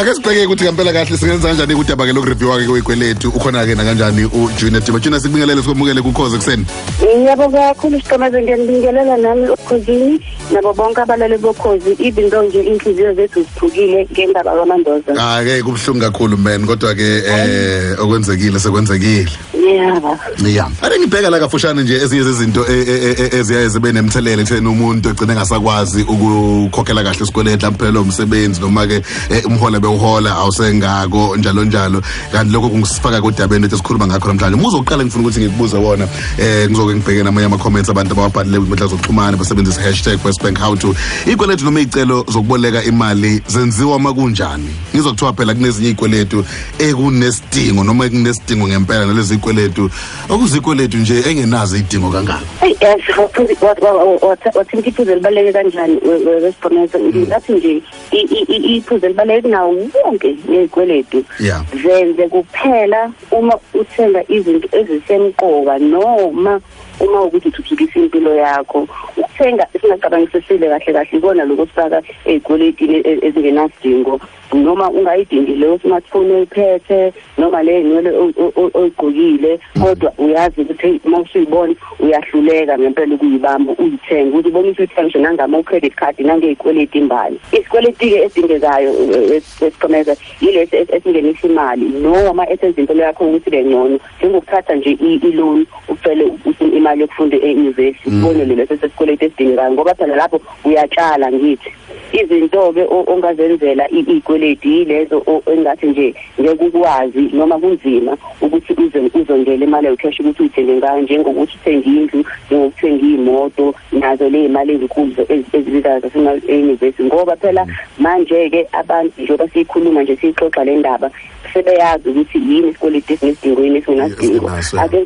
ake sibheke ukuthi ngempela kahle singenza kanjani kudaba ke lokureviewa ke kwekweletu ukhona ke nakanjani ujunior diba junior sikubingelele sikwamukele kukhoze kuseni yebo kakhulu siqamaze ngiyanibingelela nami okhozini nabo bonke abalale bokhozi even though nje inhliziyo zethu ziphukile ngendaba kwamandoza ake ah, kubuhlungu kakhulu man kodwa ke eh okwenzekile sekwenzekile Ngiyaba. Yeah. Ake ngibheka la kafushane nje ezinye zezinto e, e, e, eziyaye zibe nemthelela ekutheni umuntu egcine engasakwazi ukukhokhela kahle isikweleti lamphelele umsebenzi noma ke umhole bewuhola awusengako njalo njalo kanti lokho kungisifaka kodabeni lethe sikhuluma ngakho namhlanje muzo uqala ngifuna ukuthi ngikubuze wona eh ngizoke ngibheke namanye ama comments abantu ababhalile kwinkundla zokuxhumana basebenzisa hashtag #westbank how to ikweletu noma icelo zokuboleka imali zenziwa makunjani ngizokuthiwa phela kunezinye izikweletu ekunesidingo noma ekunesidingo ngempela nalezi kweletu okuzikweletu nje engenazo idingo kangaka hey yes wathinta iphuzu elibaleke kanjani wesiboneza ngathi nje iphuzu elibaleke kunawo wonke lezikweletu zenze kuphela uma uthenga izinto ezisemqoka noma uma ukuthi uthuthukisa impilo yakho ukuthenga singacabangisisile kahle kahle ikona lokufaka ey'kweletini e, ezingenasidingo noma ungayidingi leyo smartphone oyiphethe noma le nywele oyigqokile mm. kodwa uyazi ukuthi uma usuyibona uyahluleka ngempela ukuyibamba uyithenga ukuthi ubonisa ukuthi ngisho nangama credit card nangezikweleti imbali isikweleti-ke edingekayo eh, eh, esiqhemeza yilesi esingenisa imali noma esenza impilo yakho ukuthi ibe ngcono njengokuthatha nje i-loan ucele imali yokufunda e-university mm. ubone lelo sesesikweletu esidingekayo ngoba phela lapho uyatshala ngithi izinto-ke ongazenzela iy'kweledi yilezo engathi nje ngeke ukwazi noma kunzima ukuthi uzongele imali yocash ukuthi uyithenge ngayo njengokuthi uthenge indlu njengokuthenga iy'moto nazo ley'mali ezinkulu ezibizayo zasema-enyuvesi ngoba phela mm. manje-ke abantu njengoba siyikhuluma nje siyixoxa le ndaba sebeyazi ukuthi yini isikweleti esinesidingo yini esingenasidingo ake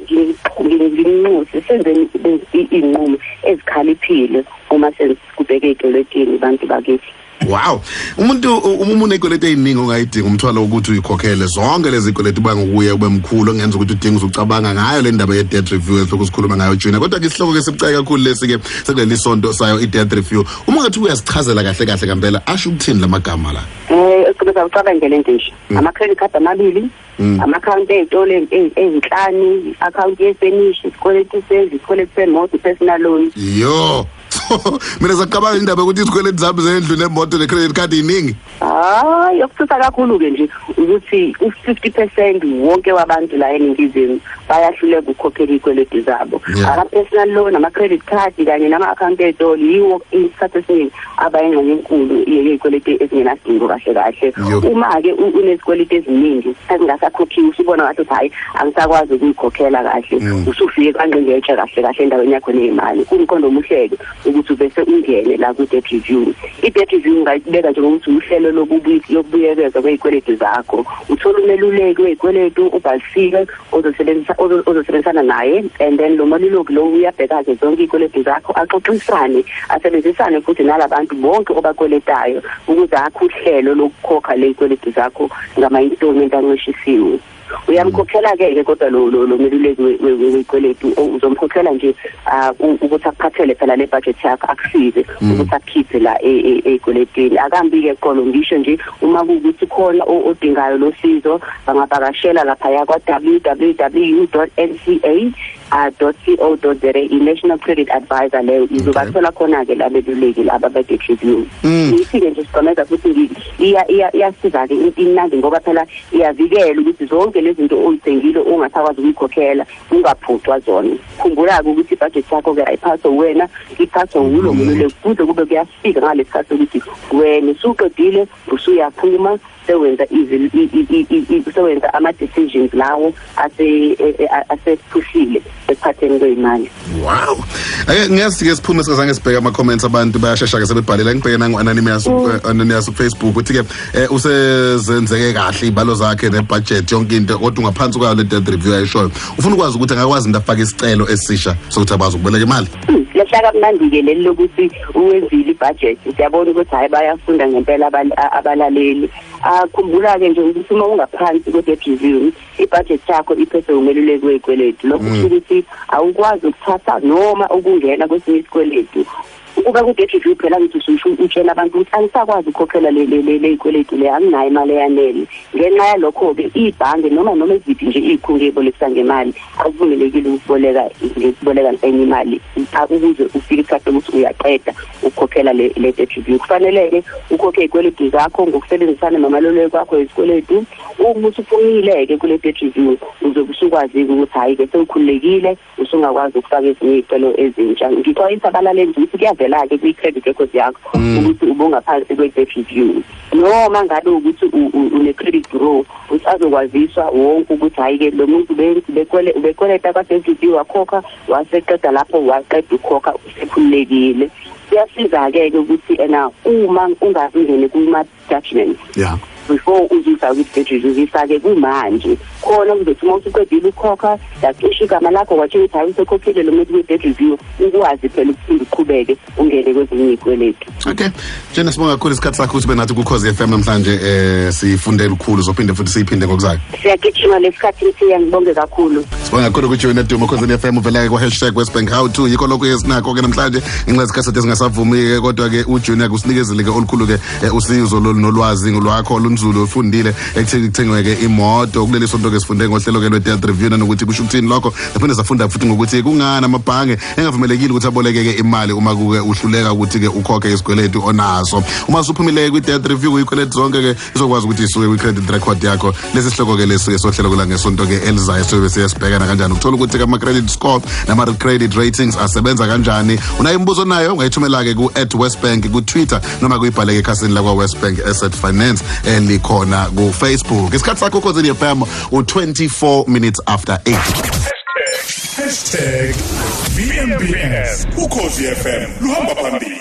nginxuse senzeni iy'nqumo ezikhaliphile uma sekubheke ey'kweletini abantu bakithi wow umuntu uma umuntu ekweleta eziningi ongayidinga umthwalo ukuthi uyikhokhele zonke lezi kweleta uba ngokuye ube mkhulu ongenza ukuthi udinga uzucabanga ngayo le ndaba ye-debt review esihloko sikhuluma ngayo junior kodwa ke isihloko ke sibucayi kakhulu lesi-ke sekuleli sonto sayo i-debt review uma ungathi uyasichazela kahle kahle kampela asho ukuthini la magama la Eh eqhubeka ucabangele into nje. Mm. Ama credit card amabili, mm. ama account ezitolo ezinhlanu, account yefurnish, isikweletu sendlu, isikweletu semoto, personal loan. Yo. Mina sacabanga indaba ukuthi izikweletu zami zendlu nemoto necredit card iningi. Hayi okuthutha kakhulu ke nje ukuthi u50% wonke wabantu la eningizimu bayahluleka ukukhokhela izikweletu zabo. Ama personal loan, ama credit card kanye nama account ezitolo yiwo isikhathi esiningi abayingxenye enkulu yezikweleti ezingenasidingo kahle kahle uma-ke unezikweleti eziningi ezingasakhokhiwe usubona ngathi ukuthi hhayi angisakwazi ukuyikhokhela kahle mm. usufike kwangqingetshe kahle kahle endaweni yakho ney'mali kumqondo omuhleke ukuthi ubese ungene la ku-debt review i-debt review ungayibeka njengokuthi uhlelo lokubuyekeza kwezikweleti zakho uthola umeluleki wezikweletu ubhalisiwe ozosebenzisa ozo- ozosebenzisana naye and then lo maliloki lo uyabheka-ke zonke iy'kweletu zakho axoxisane asebenzisane futhi nalabantu bonke obakweletayo ukuze akhe uhlelo lokukhokha ley'kweletu zakho ngama-installment ancishisiwe uyamkhokhela-ke ke kodwa lo- lo lo meluleki we- we- we- wekweletu o- uzomkhokhela nje ah, u- ukuthi akuphathele phela le budget yakho akusize ukuthi akukhiphe la e- e- ey'kweletini akambi-ke qolo ngisho nje uma kuwukuthi khona o- odingayo lo sizo bangavakashela laphaya kwa-www nca uh, co za i-national credit advisor leyo izobathola khona-ke labeluleki laba be-debt review mm. ngiyifike nje sigomeza futhi iyasiza-ke imnandi ngoba phela iyavikela ukuthi zonke lezi zinto oyithengile ungasakwazi ukuyikhokhela ungaphucwa zona khumbula-ke ukuthi ibhajethi yakho-ke ayiphaswe wena iphaswe wulo mm. mululeki kuze kube kuyafika ngalesi khathi ukuthi wena usuqedile usuyaphuma sewenza sewenza ama-decisions lawo e, e, asephushile ekuphatheni kweyimali wow ake ngiyasike siphume sikazange sibheke ama-comments abantu bayashesha-ke sebebhalela ngibheke nangu-anonymous mm. eh, anonymous ukufacebook ukuthi-ke um usezenzeke kahle iy'balo zakhe nebhajethi yonke into kodwa ungaphansi kwayo le death review ayishoyo ufuna ukwazi ukuthi angakwazi into afake isicelo esisha sokuthi akwazi ukuboleka imali hmm, lehlaka mnandi-ke leli lokuthi uwenzile ibudget siyabona ukuthi hayi bayafunda ngempela abantu abalaleli akhumbula ke nje ukuthi uma ungaphansi kwedetribune ibudget yakho iphethe umeluleki wezikweletu lokho mm. kusho ukuthi awukwazi ukuthatha noma ukungena kwesinye isikweletu ukuba kudetribune phela ngithi ususho utshela abantu ukuthi angisakwazi ukukhokhela lezikweletu le anginayo imali eyanele ngenxa yalokho-ke ibhange noma noma eziphi nje iy'khungo ey'bolekisa ngemali akuvumelekile ukuboleka ngikuboleka enye imali ukuze ufike isikhathi ukuthi uyaqeda ukukhokhela le le debt review kufanele-ke ukhokhe izikweletu zakho ngokusebenzisana nomaluleki wakho izikweletu uma usuphumile-ke kule debt review uze kusukwazi-ke ukuthi hhayi-ke sewukhululekile usungakwazi ukufaka ezinye iy'celo ezintsha ngixwayisa abalaleli ukuthi kuyavela-ke kwi-credit record yakho mm. ukuthi ubungaphansi kwe-debt review noma ngabe ukuthi une-credit bureau ukuthi azokwaziswa wonke ukuthi hhayi-ke lo muntu ubekweleta kwase-ncb wakhokha waseqeda lapho waqeda ukhokha usekhululekile kuyasiza-ke-ke ukuthi ena uma ungazingene kuma-judgment yeah. before uzisa ukudedriz uzisa-ke kumanje khona kuzothi uma usuqedile ukukhokha yacisha igama lakho watsho ukuthi hayi usekhokhile lo muntu kwi-dead review ukwazi phela ukuphinde uqhubeke ungene kwezinye izikweletu okay jena sibonga kakhulu isikhathi sakho ukuthi benathi kukhozi FM namhlanje eh sifunde lukhulu zophinde futhi siyiphinde ngokuzayo siyagijima lesikhathi siya ngibonge kakhulu sibonga kakhulu ukuthi wena Duma khosini FM uvela kwa hashtag Westbank how to yikho lokho esinakho ke namhlanje inxezi kasete singasavumi ke kodwa ke uJunior kusinikezile ke olukhulu ke eh, usizo nolwazi ngolwakho olunzulu ofundile ekutheni kuthengwe ke imoto kuleli sonto ke sifunde ngohlelo ke lwe-death review nanokuthi kusho ukuthini lokho naphinde safunda futhi ngokuthi kungani amabhange engavumelekile ukuthi abolekeke imali uma kuke uhluleka ukuthi ke ukhokhe isikweletu onaso uma usuphumile kwi debt review uyikweletu zonke ke izokwazi ukuthi isuke kwi credit record yakho lesi sihloko ke lesuke sohlelo kula ngesonto ke elizayo sobe siyasibhekana kanjani ukuthola ukuthi kama credit score nama credit ratings asebenza kanjani unayo imibuzo nayo ungayithumela ke ku @westbank ku Twitter noma kuyibhaleke ekhasini lakwa Westbank Asset Finance elikhona ku Facebook isikhathi sakho khosini FM u 24 minutes after 8 Hashtag VMBS. Ukhozi FM. Luhamba phambili.